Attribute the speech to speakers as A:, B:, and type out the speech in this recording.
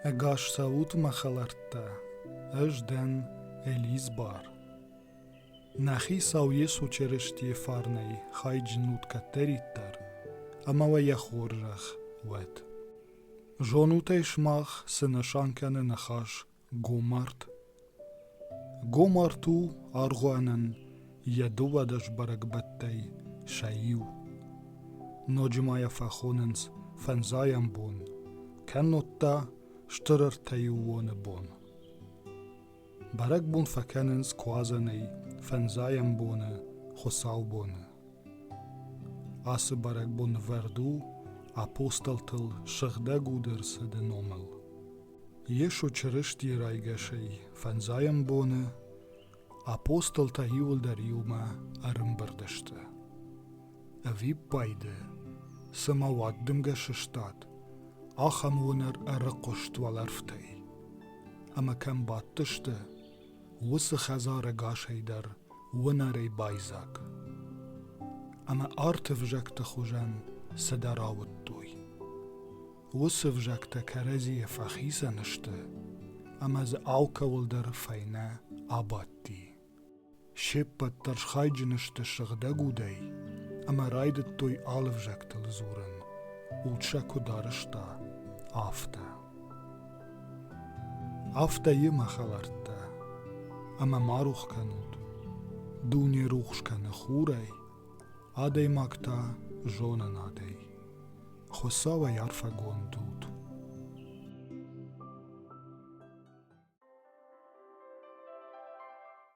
A: Ӕгас цӕут мӕ хӕлӕрттӕ, ӕз дӕн Элизбар. Нӕ хицау Йесо Черестийы фарнӕй хайджын ут кӕддӕриддӕр, ӕмӕ уӕ йӕ хорзӕх уӕд. Зонут ӕй сымах цы нысан кӕны ныхас Гомарт Гомарт у аргъуанӕн йӕ дыууадӕс бӕрӕгбӕттӕй сӕ иу. Ноджы ма йӕ фӕхонынц фӕндзайӕм бон, кӕннод та стыр ӕртӕйыуоны бон. Бӕрӕгбон фӕкӕнынц куадзӕнӕй фӕндзайӕм боны хуыцаубоны. Ацы бӕрӕгбон вӕрд у апостолтыл сыгъдӕг уды рцыды номыл. Йесо Чырыстийы райгасӕй фӕндзайӕм боны апостолтӕ иуылдӕр иумӕ ӕрымбырд сты. Ӕвиппайды, цымӕ уӕд дымгӕ сыстад, ахӕм уынӕр ӕрыхъуыст уӕлӕрвтӕй. Ӕмӕ кӕм бадтысты, уыцы хӕдзарӕгасӕй дӕр уынӕрӕй байдзаг. Ӕмӕ арты взӕгты хуызӕн цыдӕр ауыдтой. Уыцы взӕгтӕ кӕрӕдзийӕ фӕхицӕн сты, ӕмӕ дзы алкӕуыл дӕр фӕйнӕ абадти. Се ппӕт дӕр схайджын сты сыгъдӕг удӕй ӕмӕ райдыдтой алы взӕгтыл дзурын, уд сӕ куыд арызта, афтӕ. Афтӕ йемӕ хӕлӕрттӕ, ӕмӕ ма рухс кӕнут. Дуне рухс кӕны хурӕй, адӕймаг та зонанадӕй. Хуцауӕй арфӕгонд ут!